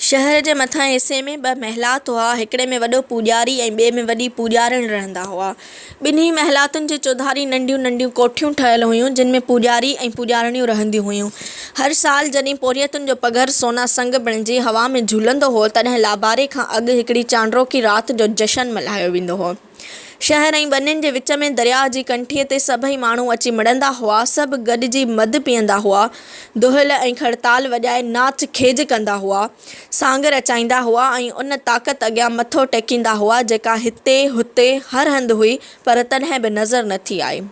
شهر جي مٿانهين حصي ۾ ٻه محلات هئا، هڪڙي ۾ وڏو پوڄاري ۽ ٻئي ۾ وڏي پوڄارڻ رهندا هئا. ٻنهي محلاتن جي چوڌاري ننڍيون ننڍيون ڪوٺيون ٺهيل هيون، جن ۾ پوڄاري ۽ پوڄارڻيون رهنديون هيون. هر سال جڏهن پورهيتن جو پگهر سونا سنگ بڻجي هوا ۾ جهولندو هو، تڏهن لاباري کان اڳ هڪڙي چانڊروڪي رات جو جشن ملهايو ويندو هو. شهر ۽ ٻنين جي وچ ۾ درياهه جي ڪنٺيء تي سڀئي ماڻهو اچي مڙندا هئا. سڀ گڏجي مڌ پيئندا هئا. دهل ۽ کڙتال وڄائي ناچ کيج ڪندا هئا. سانگ رچائيندا هئا ۽ ان طاقت اڳيان مٿو ٽيڪيندا هئا، جيڪا هتي، هتي، هر هنڌ هئي، پر تڏهن به نظر نه ٿي آئي.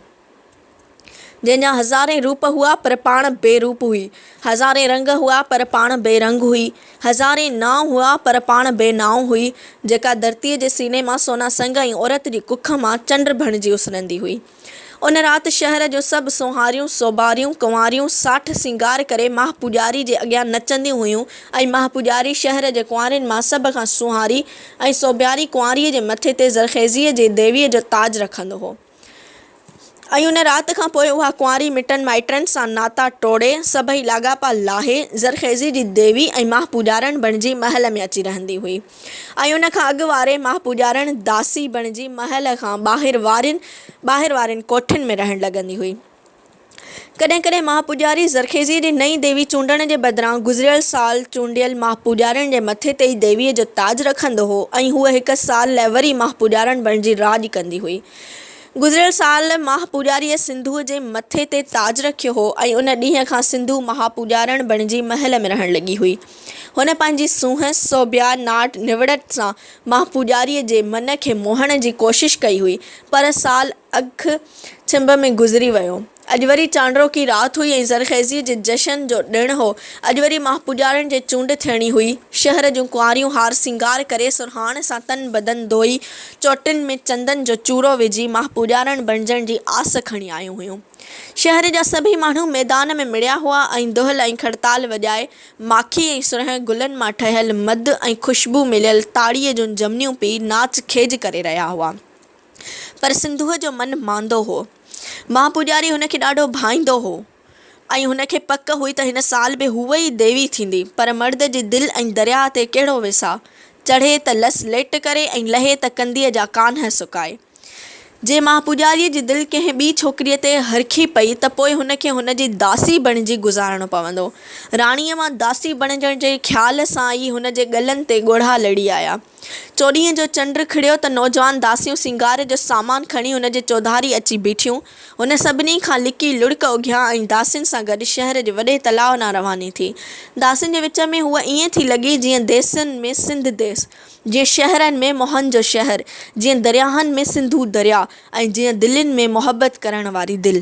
جنهن جا هزارين روپ هئا پر پاڻ بي روپ هئي، هزارين رنگ هئا پر پاڻ بي رنگ هئي، هزارين نانء هئا پر پاڻ بي نانء هئي، جيڪا ڌرتيء جي سيني مان سونا سنگ ۽ عورت جي ڪک مان چنڊ بڻجي اسرندي هئي. ان رات شهر جون سڀ سونهاريون، سوڀاريون، ڪنواريون ساٺ سينگار ڪري ماهه پوڄاري جي اڳيان نچنديون هيون ۽ ماهه پوڄاري شهر جي ڪنوارين مان سڀ کان سونهاري ۽ سوڀياري ڪنواريء جي مٿي تي زرخيزيء جي ديويء جو تاج رکندو هو. ۽ ان رات کان پوء اها ڪنواري مٽن مائٽن سان ناتا ٽوڙي، سڀئي لاڳاپا لاهي، زرخيزي جي ديوي ۽ ماه پوڄارڻ بڻجي محل ۾ اچي رهندي هئي ۽ ان کان اڳ واري ماه پوڄارڻ داسي بڻجي محل کان ٻاهر وارين ٻاهر وارين ڪوٺين ۾ رهڻ لڳندي هئي. ڪڏهن ڪڏهن مهاپوڄاري زرخيزي جي نئين ديوي چونڊڻ جي بدران گذريل سال چونڊيل مهاپوڄارين جي مٿي تي ئي ديويء جو تاج رکندو هو ۽ هوء هڪ سال لاء وري مهاپوڄارڻ بڻجي راڄ ڪندي هئي. گذريل سال مهاپوڄاريء سنڌوء جي مٿي تي تاج رکيو هو ۽ ان ڏينهن کان سنڌو مهاپوڄارڻ بڻجي محل ۾ رهڻ لڳي هئي. هن پنهنجي سونهن، سوڀيا، ناٽ، نوڙت سان مهاپوڄاريء جي من کي موهڻ جي ڪوشش ڪئي هئي، پر سال اک، ڇنڀ ۾ گذري ويو. اڄ وري چانڊروڪي رات هئي ۽ زرخيزيء جي جشن جو ڏڻ هو. اڄ وري ماهپوڄارين جي چونڊ ٿيڻي هئي. شهر جون ڪنواريون هار سينگار ڪري، سرهاڻ سان تن بدن ڌوئي، چوٽين ۾ چندن جو چورو وجهي، ماهپوڄارڻ بڻجڻ جي آس کڻي آيون هيون. شهر جا سڀئي ماڻهو ميدان ۾ مڙيا هئا ۽ دهل ۽ کڙتال وڄائي، ماکي ۽ سرهين گلن مان ٺهيل مڌ ۽ خوشبو مليل تاڙيء جون جهمنيون پي، ناچ کيج ڪري رهيا هئا. پر سنڌوء جو من ماندو هو. مهان پوڄاري هن کي ڏاڍو ڀائيندو هو ۽ هن کي پڪ هئي ته هن سال به هوء ئي ديوي ٿيندي. پر مرد جي دل ۽ درياهه تي ڪهڙو ويساهه! چڙهي ته لس ليٽ ڪري ۽ لهي ته ڪنديء جا ڪانه سڪائي. جي مهان پوڄاريء جي دل ڪنهن ٻي ڇوڪريء تي هرکي پئي ته پوء هن کي هن جي داسي بڻجي گذارڻو پوندو. راڻيء مان داسي بڻجڻ جي خيال سان ئي هن جي ڳلن تي ڳوڙها لڙي آيا. چوڏهينء جو چنڊ کڙيو ته نوجوان داسيون سينگار جو سامان کڻي هن جي چوڌاري اچي بيٺيون. هن سڀني کان لڪي لڙڪ اگهيان ۽ داسين سان گڏ شهر جي وڏي تلاء ڏانهن رواني ٿي. داسين جي وچ ۾ هوء ائين ٿي لڳي جيئن ديسن ۾ سنڌ ديس، جيئن شهرن ۾ موهن جو شهر، جيئن درياهن ۾ سنڌو درياء ۽ جيئن دلين ۾ محبت ڪرڻ واري دل.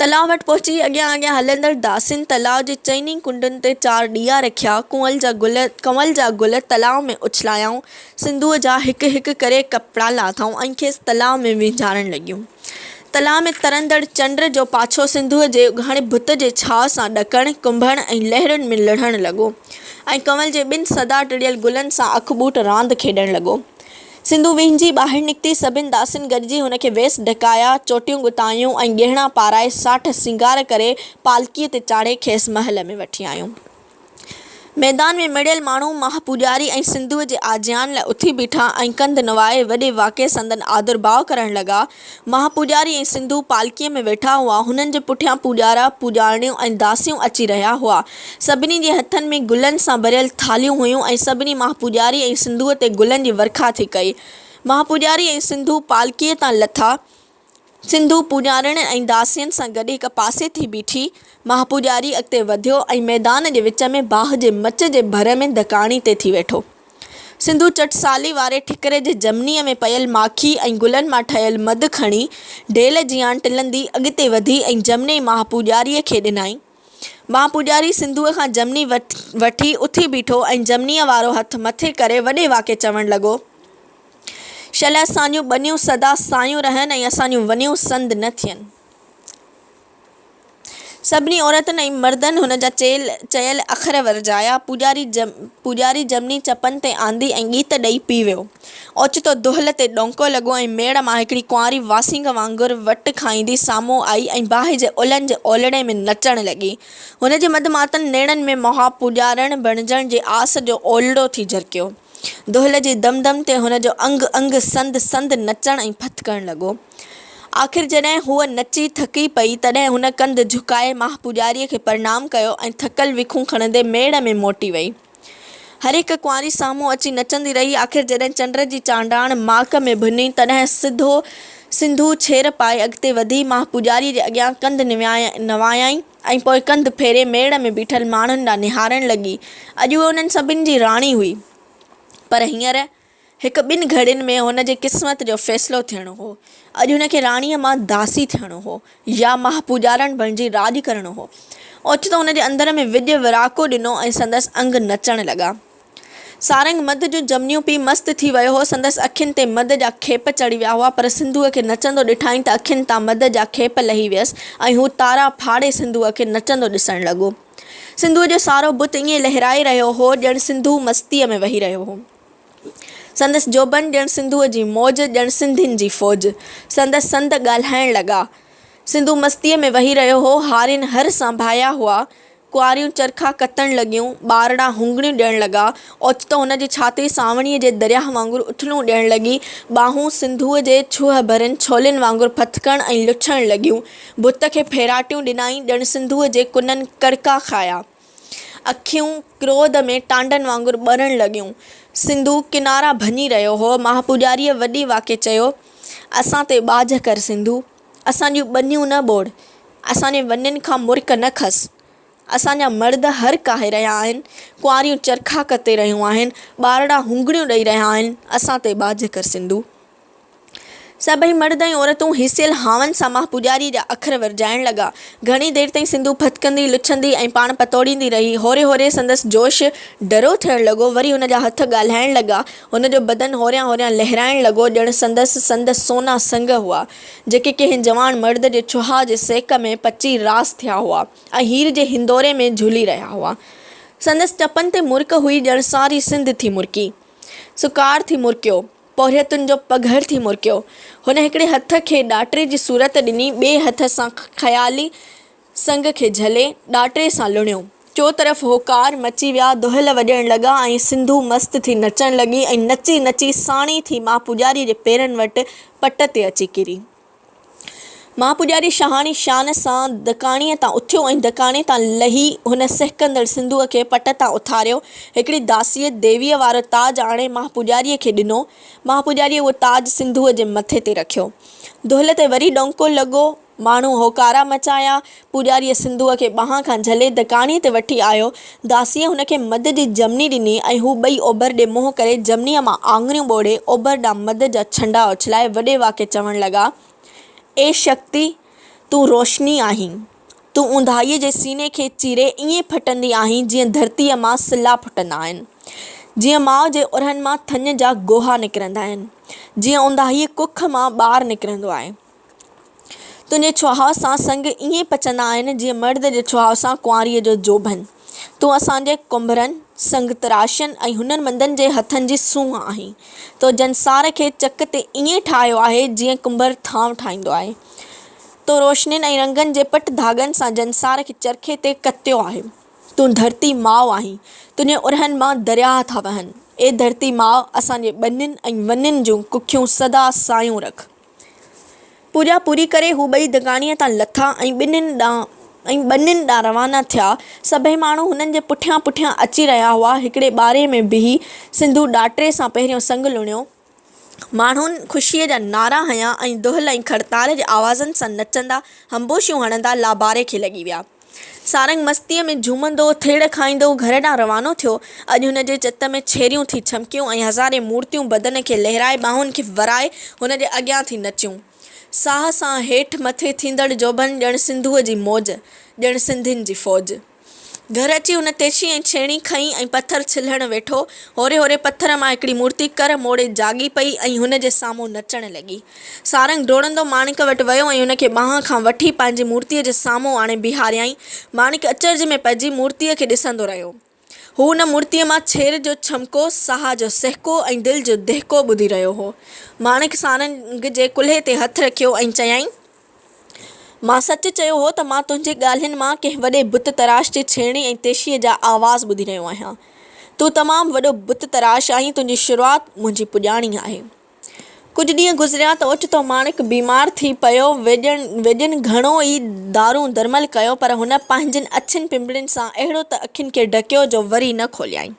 تلاء وٽ پهچي اڳيان اڳيان هلندڙ داسين تلاء جي چئني ڪنڊن تي چار ڏيئا رکيا، ڪنول جا گل ڪنول جا گل تلاء ۾ اڇلايائون، سنڌوء جا هڪ هڪ ڪري ڪپڙا لاٿائون ۽ کيس تلاء ۾ وينجهارڻ لڳيون. تلاء ۾ ترندڙ چنڊ جو پاڇو سنڌوء جي اگهاڙي ڀت جي ڇهاء سان ڏڪڻ، ڪنڀڻ ۽ لهرن ۾ لڙهڻ لڳو ۽ ڪنول جي ٻن سدا ٽڙيل گلن سان اک ٻوٽ راند کيڏڻ لڳو. سنڌو وينجهي ٻاهر نڪتي، سڀن داسين گڏجي هن کي ويس ڍڪايا، چوٽيون ڳتايون ۽ ڳهڻا پارائي، ساٺ سينگار ڪري، پالڪيء تي چاڙهي کيس محل ۾ وٺي آيون. ميدان ۾ مڙهيل ماڻهو ماهه پوڄاري ۽ سنڌوء جي آجيان لاء اٿي بيٺا ۽ ڪنڌ نوائي وڏي واڪي سندن آڌرڀاء ڪرڻ لڳا، مها پوڄاري ۽ سنڌو پالڪيء ۾ ويٺا هئا. هنن جي پٺيان پوڄارا، پوڄارڻيون ۽ داسيون اچي رهيا هئا. سڀني جي هٿن ۾ گلن سان ڀريل ٿالهيون هيون ۽ سڀني مها پوڄاري ۽ سنڌوء تي گلن جي ورکا ٿي ڪئي. مها پوڄاري ۽ سنڌو پالڪيء تان لٿا. سنڌو پوڄارڻين ۽ داسين سان گڏ هڪ پاسي ٿي بيٺي. مها پوڄاري اڳتي وڌيو ۽ ميدان جي وچ ۾ باهه جي مچ جي ڀر ۾ دڪاڻي تي ٿي ويٺو. سنڌو چٽ سالي واري ٺڪري جي جهمنيء ۾ پيل ماکي ۽ گلن مان ٺهيل مڌ کڻي، ڍيل جيان ٽلندي اڳتي وڌي ۽ جهمني ماهه پوڄاريء کي ڏنائين. ماهه پوڄاري سنڌوء کان جهمني وٺي اٿي بيٺو ۽ جهمنيء وارو هٿ مٿي ڪري وڏي واڪي چوڻ لڳو، شل اسان جون ٻنيون سدا سايون رهن ۽ اسان جون ونيون سند نه ٿين. سڀني عورتن ۽ مردن هن جا چيل اکر ورجايا. پوڄاري جمني چپن تي آندي ۽ ڳيت ڏئي پي ويو. اوچتو دهل تي ڏونڪو لڳو ۽ ميڙ مان هڪڙي ڪنواري واسينگ وانگر وٽ کائيندي سامهون آئي ۽ باهه جي الن جي اولڙي ۾ نچڻ لڳي. هن جي مڌ ماتن نيڻن ۾ مها پوڄارڻ بڻجڻ جي آس جو اولڙو ٿي جرڪيو. دهل جي دم دم تي هن جو انگ انگ سند سند نچڻ ۽ پھت ڪرڻ لڳو. آخر جڏهن هوء نچي ٿڪي پئي، تڏهن هن ڪنڌ جهڪائي ماهه پوڄاريء کي پرڻام ڪيو ۽ ٿڪل ويکون کڻندي ميڙ ۾ موٽي وئي. هر هڪ ڪنواري سامهون اچي نچندي رهي. آخر جڏهن چنڊ جي چانڊاڻ ماڪ ۾ ڀڃي، تڏهن سڌو سنڌو ڇير پائي اڳتي وڌي ماهه پوڄاريء جي اڳيان ڪنڌ نوايائين. ۽ پوء ڪنڌ ڦيري ميڙ ۾ بيٺل ماڻهن ڏانهن نهارڻ لڳي. اڄ هوء انهن سڀني جي راڻي هئي. پر هينئر هڪ ٻن گهڙين ۾ هن جي قسمت جو فيصلو ٿيڻو هو. اڄ هن کي راڻيء مان داسي ٿيڻو هو يا ماهه پوڄارڻ بڻجي راڄ ڪرڻو هو. اوچتو هن جي اندر ۾ وڄ وراڪو ڏنو ۽ سندس انگ نچڻ لڳا. سارنگ مڌ جون جمنيون پي مست ٿي ويو هو. سندس اکين تي مڌ جا کيپ چڙهي ويا هئا، پر سنڌوء کي نچندو ڏٺائين ته اکين تان مڌ جا کيپ لهي ويس ۽ هو تارا ڦاڙي سنڌوء کي نچندو ڏسڻ لڳو. سنڌوء جو سارو بت ائين لهرائي رهيو هو ڄڻ سنڌو مستيء ۾ وهي رهيو هو. سندس جوڀن ڄڻ سنڌوء جي موج، ڄڻ سنڌين جي فوج. سندس سنڌ ڳالهائڻ لڳا. سنڌو مستيء ۾ وهي رهيو هو. هارين هر سانڀايا هئا. ڪنواريون چرخا ڪتڻ لڳيون، ٻارڙا هونگڻيون ڏيڻ لڳا. اوچتو هن جي ڇاتي سانوڻيء جي درياهه وانگر اٿلون ڏيڻ لڳي. ٻانهون سنڌوء جي ڇهه ڀرين ڇولين وانگر ڦٿڪڻ ۽ لڇڻ لڳيون. ڀت کي ڦيراٽيون ڏنائين، ڄڻ سنڌوء جي ڪنن ڪڙڪا کايا. اکيون ڪروڌ ۾ ٽانڊن وانگر ٻرڻ لڳيون. سنڌو ڪنارا ڀڃي رهيو هو. مهاپوڄاريء وڏي واڪي چيو، اسان تي ٻاجهه ڪر سنڌو! اسان جون ٻنيون نه ٻوڙ، اسان جي ونين کان مرڪ نه کس. اسان جا مرد هر ڪاهي رهيا آهن، ڪنواريون چرخا ڪتي رهيون آهن، ٻارڙا هونگڙيون ڏئي رهيا آهن، اسان تي ٻاجهه ڪر سنڌو. سڀئي مرد ۽ عورتون هيسيل هانئن سان ماه پوڄاريء جا اکر ورجائڻ لڳا. گهڻي دير تائين سنڌو ڦٿڪندي، لڇندي ۽ پاڻ پتوڙيندي رهي. هوري هوري سندس جوش ڍرو ٿيڻ لڳو، وري هن جا هٿ ڳالهائڻ لڳا، هن جو بدن هوريان هوريان لهرائڻ لڳو ڄڻ سندس سنڌ سونا سنگ هئا، جيڪي ڪنهن جوان مرد جي ڇهاء جي سيڪ ۾ پچي راس ٿيا هئا ۽ هير جي هندوري ۾ جهلي رهيا هئا. سندس چپن تي مرڪ هئي ڄڻ ساري سنڌ ٿي مرڪي. سڪار ٿي مرڪيو. پورهيتن جو پگهر ٿي مرڪيو. هن هڪڙي هٿ کي ڏاٽري جي صورت ڏني، ٻئي هٿ سان خيالي سنگ کي جهلي، ڏاٽري سان لڻيو. چوطرف هوڪار مچي ويا، دهل وڄڻ لڳا ۽ سنڌو مست ٿي نچڻ لڳي ۽ نچي نچي ساڻي ٿي مان پوڄاري جي پيرن وٽ پٽ تي اچي ڪري. مان پوڄاري شاهاڻي شان سان دڪاڻيء تان اٿيو ۽ دڪاڻي تان لهي هن سهڪندڙ سنڌوء کي پٽ تان اٿاريو. هڪڙي داسيء ديويء وارو تاج آڻي مان پوڄاريء کي ڏنو. مان پوڄاريء اهو تاج سنڌوء جي مٿي تي رکيو. دهل تي وري ڏونڪو لڳو. ماڻهو هوڪارا مچايا. پوڄاريء سنڌوء کي ٻانهن کان جهلي دڪاڻيء تي وٺي آيو. داسيء هن کي مڌ جي جهمني ڏني ۽ هو ٻئي اوڀر ڏي منهن ڪري جهمنيء مان آڱريون ٻوڙي اوڀر ڏانهن مڌ جا ڇنڊا اڇلائي وڏي واڪي چوڻ لڳا، اي شڪتي! تون روشني آهين. تون اونداهيء جي سيني کي چيري ائين ڦٽندي آهين جيئن ڌرتيء مان سلا ڦٽندا آهن. جيئن ماء جي اورهن مان ٿڃ جا گوها نڪرندا آهن. جيئن اونداهيء ڪک مان ٻار نڪرندو آهي. تنهنجي چهاء سان سڱ ائين پچندا آهن، جيئن مرد جي چهاء سان ڪنواريء جو جوڀن. تون اسان جي ڪنڀرن، سڱ تراشين ۽ هنر مندن جي هٿن جي سونهن آهين. تو جنسار کي چڪ تي ائين ٺاهيو آهي، جيئن ڪنڀر ٿانو ٺاهيندو آهي. تو روشنين ۽ رنگن جي پٽ ڌاڳن سان جنسار کي چرخي تي ڪتيو آهي. تون ڌرتي ماء آهين. تنهنجي اورهن مان درياهه ٿا وهن. اي ڌرتي ماء! اسان جي ٻنين ۽ ونين جون ڪکيون سدا سايون رک. پوڄا پوري ڪري هو ٻئي دڪانيء تان لٿا ۽ ٻنين ڏانهن ۽ ٻنين ڏانهن روانا ٿيا. سڀئي ماڻهو هنن جي پٺيان پٺيان اچي رهيا هئا. هڪڙي ٻاري ۾ بيهي سنڌو ڏاٽري سان پهريون سڱ لڻيو. ماڻهن خوشيء جا نعرا هنيا ۽ دهل ۽ کڙتار جي آوازن سان نچندا همبوشيون هڻندا لاباري کي لڳي ويا. سارنگ مستيء ۾ جهومندو، ٿڙ کائيندو گهر ڏانهن روانو ٿيو. اڄ هن جي چت ۾ ڇيريون ٿي ڇمڪيون ۽ هزارين مورتيون بدن کي لهرائي ٻانهن کي ورائي هن جي اڳيان ٿي نچيون. ساهه سان هيٺ مٿي ٿيندڙ جوڀن ڄڻ سنڌوء جي موج، ڄڻ سنڌين جي فوج. گهر اچي هن تيشي ۽ ڇيڻي کنئي ۽ پٿر ڇلهڻ ويٺو. هوري هوري پٿر مان هڪڙي مورتي ڪر موڙي جاڳي پئي ۽ هن جي سامهون نچڻ لڳي. سارنگ ڊوڙندو ماڻڪ وٽ ويو ۽ ان کي ٻانهن کان وٺي پنهنجي مورتيء جي سامهون آڻي بيهاريائين. ماڻڪ اچرج ۾ پئجي مورتيء کي ڏسندو رهيو. هو ان مورتيء مان ڇير جو ڇمڪو، ساهه جو سهڪو ۽ دل جو دهڪو ٻڌي رهيو هو. ماڻڪ سارنگ جي ڪلهي تي هٿ رکيو ۽ چيائين، مان سچ چيو هو ته مان تنهنجي ڳالهين مان ڪنهن وڏي بت تراش جي ڇيڻي ۽ تيشيء جا آواز ٻڌي رهيو آهيان. تون تمام وڏو بت تراش آهين، تنهنجي شروعات منهنجي پڄاڻي آهي. ڪجهه ڏينهن گذريا ته اوچتو ماڻڪ بيمار ٿي پيو. ويڄن گهڻو ئي دارون درمل ڪيو پر هن پنهنجين اڇين پنبڻين سان اهڙو ته اکين کي ڍڪيو جو وري نه کوليائين.